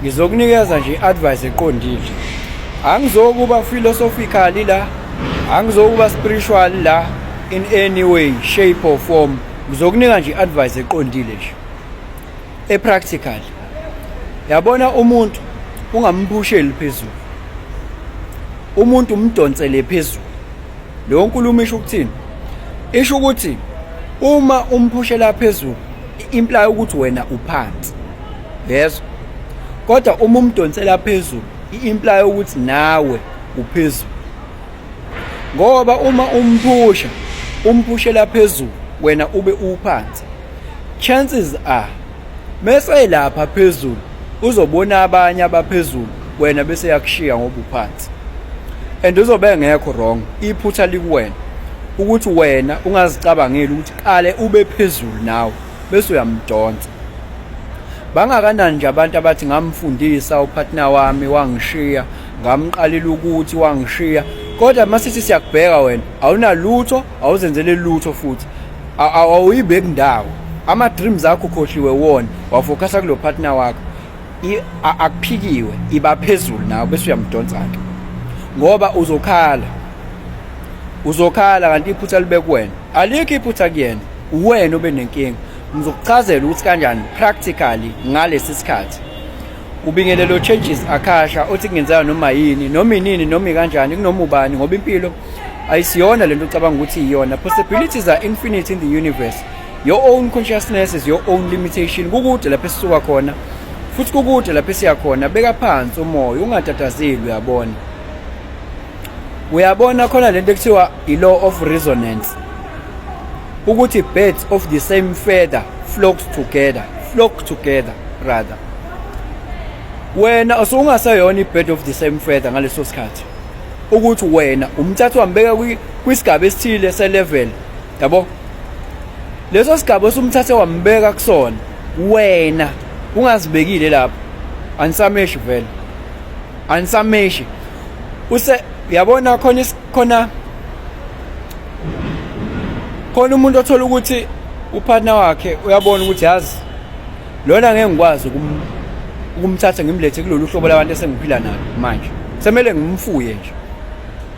ngizokunikeza nje i-advice eqondile angizokuba philosophically la angizokuba spiritual la in any way shape or form ngizokunika nje i-advice eqondile nje e-practical yabona umuntu ungambusheli phezulu umuntu umdonsele phezulu leyo nkulumo isho ukuthini isho ukuthi uma umphushela phezulu imply ukuthi wena uphansi yes kodwa uma umdonsela phezulu i-imply ukuthi nawe uphezulu ngoba uma umphusha umphushela phezulu wena ube uphansi chances are mese lapha phezulu uzobona abanye abaphezulu wena bese yakushiya ngoba uphansi and uzobe ngekho wrong iphutha likuwena ukuthi wena ungazicabangeli ukuthi qale ube phezulu nawe bese uyamdonsa bangakanani nje abantu abathi ngamfundisa upartner wami wangishiya ngamqalela ukuthi wangishiya kodwa masithi siyakubheka wena awunalutho awuzenzele lutho futhi awuyibeki ndawo ama dreams akho khohliwe wona wafocusa kulo partner wakho akuphikiwe iba phezulu nawe bese uyamdonsa-ke ngoba uzokhala uzokhala kanti iphutha libe kuwena alikho iphutha kuyena uwena obe nenkinga ngizokuchazela ukuthi kanjani practically ngalesi sikhathi ubingelelo changes akhasha othi kungenzeka noma yini noma inini noma ikanjani kunoma ubani ngoba impilo ayisiyona lento ucabanga ukuthi iyona possibilities are infinite in the universe your own consciousness is your own limitation kukude lapho esisuka khona futhi kukude lapho esiya khona beka phansi umoya ungatatazeli uyabona uyabona khona lento ekuthiwa i-law of resonance ukuthi birds of the same feather flocks together flock together rather wena usungaseyona i-bird of the same feather ngaleso sikhathi ukuthi wena umthatha wambeka kwisigaba esithile selevel yabo leso sigaba osumthathe wambeka kusona wena ungazibekile lapho anisameshi vele anisameshi use yabona khona khona khona umuntu othola ukuthi upartner wakhe uyabona ukuthi yazi lona ngeke ngikwazi ukumthatha ngimlethe kulolu hlobo labantu esengiphila nalo manje semele ngimfuye nje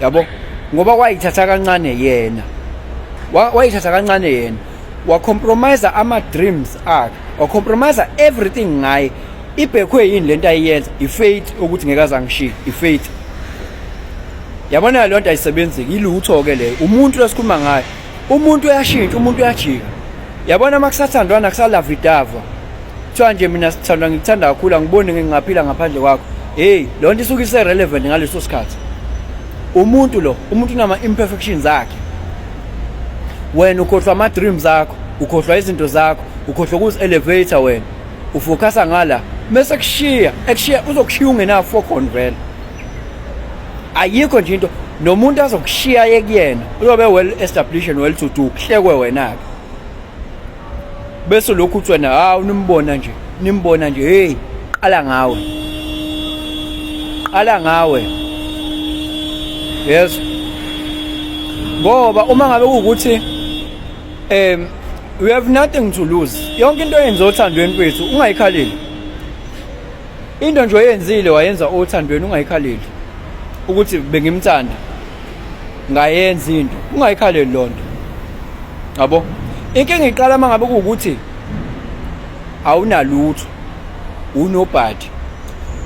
yabo ngoba wayithatha kancane yena wayithatha kancane yena wacompromise ama-dreams akhe wacompromise everything ngaye ibhekhwe yini le nto ayiyenza ifaith ukuthi ngeke azangishiye ifaith yabona le nto ayisebenzeki ilutho-ke leyo umuntu lesikhuluma ngayo umuntu uyashintsha umuntu uyajika yabona uma kusathandwana kusalavidava kuthiwa nje mina sithandwa ngikuthanda kakhulu angiboni ngingaphila ngaphandle kwakho heyi loo nto isuke ise-relevant ngaleso sikhathi umuntu lo umuntu unama-imperfection zakhe wena ukhohlwa ama-dreams akho ukhohlwa izinto zakho ukhohlwa ukuzi-elevator wena ufokhasa ngala mese kushiya ekushiya uzokushiya ungenafo khona vele ayikho nje into nomuntu azokushiya ekuyena uyobe well established and well to do kuhlekwe wena ke bese lokhu uthi wena ha unimbona nje nimbona nje hey qala ngawe qala ngawe yes ngoba uma ngabe ukuthi um we have nothing to lose yonke into eyenza othandweni kwethu ungayikhaleli Into nje oyenzile wayenza othandweni ungayikhaleli ukuthi bengimthanda ngayenza into ungayikhaleli lonto yabo inkinga iqala mangabe ukuthi awunalutho unobhadi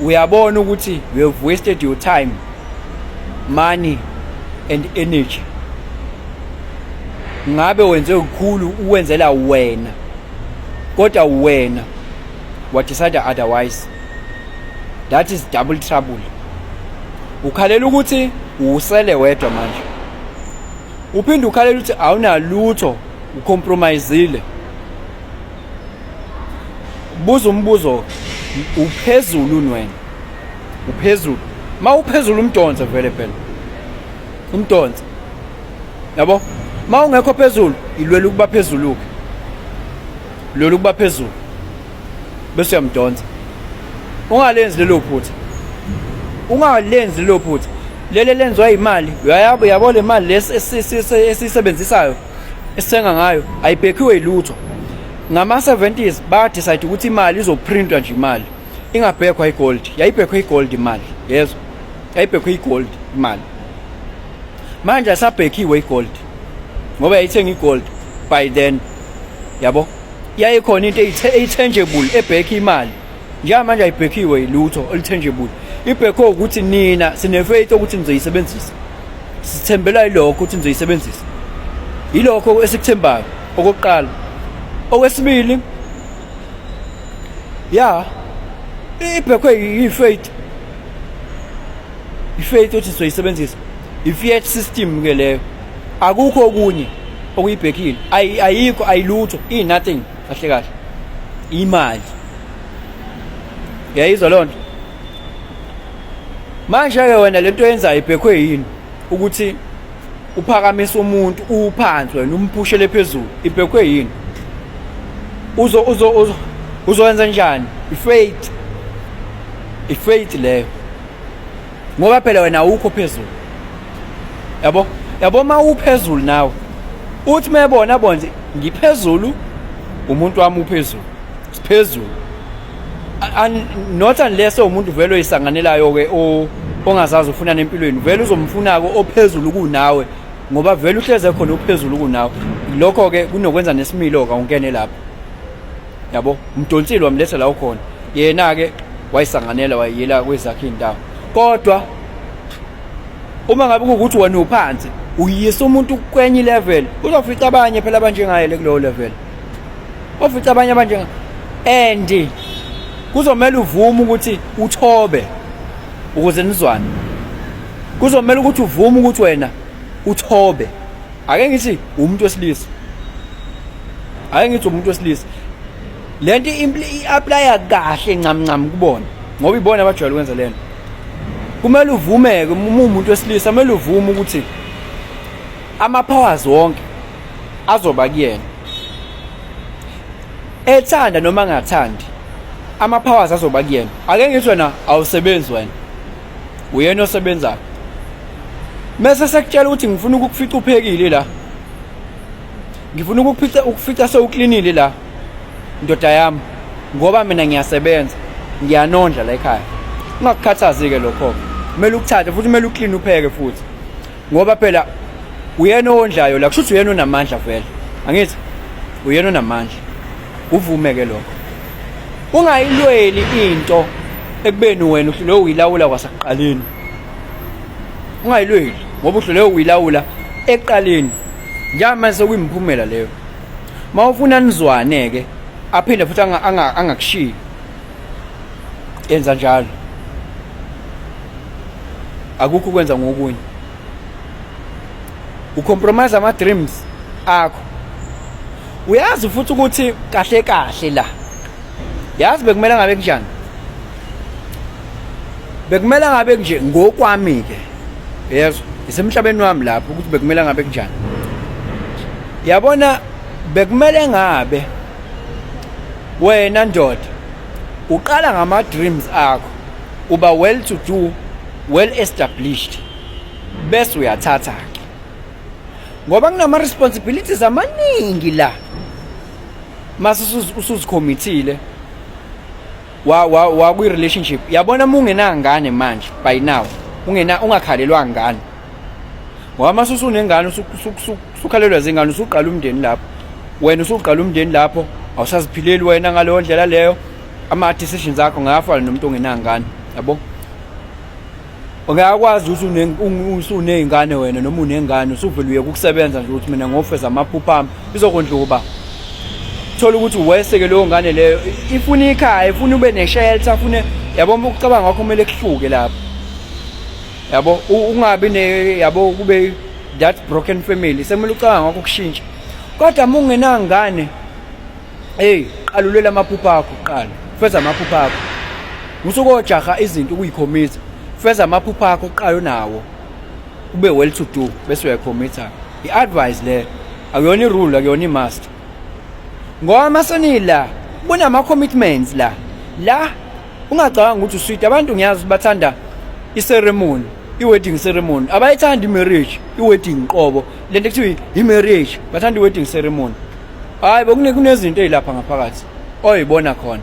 uyabona ukuthi you have wasted your time money and energy ngabe wenze kukhulu uwenzela wena kodwa wena wa decide otherwise that is double trouble ukhalela ukuthi usele wedwa manje uphinde ukhalela ukuthi awunalutho ucompromisile buza umbuzo uphezulu unwena uphezulu ma uphezulu umdonse vele phela umdonse yabo ma ungekho phezulu ilwela ukuba phezulu-ke lolu kuba phezulu bese uyamdonsa ungalenzi lelo phutha ungalenzi lelo phutha lele lenziwa imali uyayabo yabo le mali lesi esisebenzisayo esithenga ngayo ayibhekhiwe ilutho ngama 70s ba decide ukuthi imali izoprintwa nje imali ingabhekhwa igold yayibhekhwe igold imali yezwa yayibhekhwe igold imali manje asabhekhiwe igold ngoba yayithenga igold by then yabo yayikhona into eyi-tangible ebhekhe imali njengamanje ayibhekhiwe yilutho olu-tangible ibhekhe ukuthi nina sinefaith ukuthi nizoyisebenzisa sithembela yilokho ukuthi nizoyisebenzisa yilokho esikuthembayo okokuqala okwesibili ya ibhekwe yifaith ifaith othi sizoyisebenzisa ifiat system ke leyo akukho okunye okuyibhekile ayikho ayilutho i nothing kahle kahle imali yayizwa loo nto manje-ke wena le nto yenzayo ibhekhwe yini ukuthi uphakamisa umuntu uwuphansi wena umphushele phezulu ibhekhwe yini uzo uzo uzo uzowenza njani ifaith ifaith leyo ngoba phela wena awukho phezulu yabo yabo uma uphezulu nawe uthi mebona bonje ngiphezulu umuntu wami uphezulu siphezulu not unless umuntu vele oyisanganelayo ke ongazazi ufuna nempilweni vele uzomfuna ke ophezulu kunawe ngoba vele uhleze khona ophezulu kunawe lokho ke kunokwenza nesimilo ka ungene lapho yabo umdonsile wamletha la ukhona yena ke wayisanganela wayiyela kwezakhe indawo kodwa uma ngabe kuwukuthi wena uphansi uyisa umuntu kwenye ilevel uzofica abanye phela abanjengaye le kulowo level ofica abanye abanjenga and kuzomela uvume ukuthi uthobe ukuze nizwane kuzomela ukuthi uvume ukuthi wena uthobe ake ngithi umuntu wesilisa ake ngithi umuntu wesilisa lento i-aplaya kahle ncamncam kubona ngoba ibona abajwayele ukwenza lento kumele uvumeke uma umuntu wesilisa kumele uvume ukuthi ama-powers wonke azoba kuyena ethanda noma angathandi ama-powers azoba kuyena ake ngithi wena awusebenzi wena uyena osebenzayo mese sekutshela ukuthi ngifuna ukukufica uphekile la ngifuna ukukufica ukufica sewuklinile la ndoda yami ngoba mina ngiyasebenza ngiyanondla la ekhaya ungakukhathazi-ke lokho-ke kumele ukuthathe futhi kumele uklini upheke futhi ngoba phela uyena owondlayo la kushuthi uyena onamandla vele angithi uyena onamandla uvume ke lokho ungayilweli into ekubeni wena uhlule uyilawula kwasaqaleni ungayilweli ngoba uhlule uyilawula eqaleni njama sokuyimphumela leyo mawufuna nizwane ke aphinde futhi angakushiyi yenza njalo akukho ukwenza ngokunye ucompromise ama-dreams akho uyazi futhi ukuthi kahle kahle la yazi bekumele ngabe kunjani bekumele ngabe kunje ngokwami-ke yezwa isemhlabeni wami lapho ukuthi bekumele ngabe kunjani yabona bekumele ngabe Wena ndoda uqala ngama dreams akho uba well to do well established bese uyathatha ke ngoba kunama responsibilities amaningi la mase usuzikhomithile wa wa wa kwi relationship yabona uma ungenangane manje by now ungena ungakhalelwa ngane ngoba mase usunengane usuku usukhalelwa zingane usuqala umndeni lapho wena usuqala umndeni lapho awusaziphileli wena ngaleyo ndlela leyo ama decisions akho ngayafana nomuntu ongenangane yabo ungayakwazi ukuthi usuney'ngane wena noma unengane usuvele uyeka ukusebenza nje ukuthi mina ngofeza amaphupha ami izokondla ukuba thola ukuthi weseke leyo ngane leyo ifuna ikhaya ifuna ube ne-shelter fune yabona ukucabanga kwakho kumele kuhluke lapho yabo ungabi ne yabo kube that broken family sekumele ucabanga ngakho kushintsha kodwa uma ungenangane eyi qalulela amaphupha akho kuqala feza amaphupha akho usukojaha izinto ukuyikhomitha feza amaphupha akho kuqala unawo ube well to do bese uyakhomitha i-advice le akuyona irule akuyona i-must ngoba masenila kunama-commitments la la ungacabanga ukuthi usweet abantu ngiyazi bathanda iceremony i-wedding ceremony abayithandi i-marriage i-wedding qobo le nto kuthiwa i-marriage bathanda i-wedding ceremony hhayi bekunezinto ey'lapha ngaphakathi oyibona khona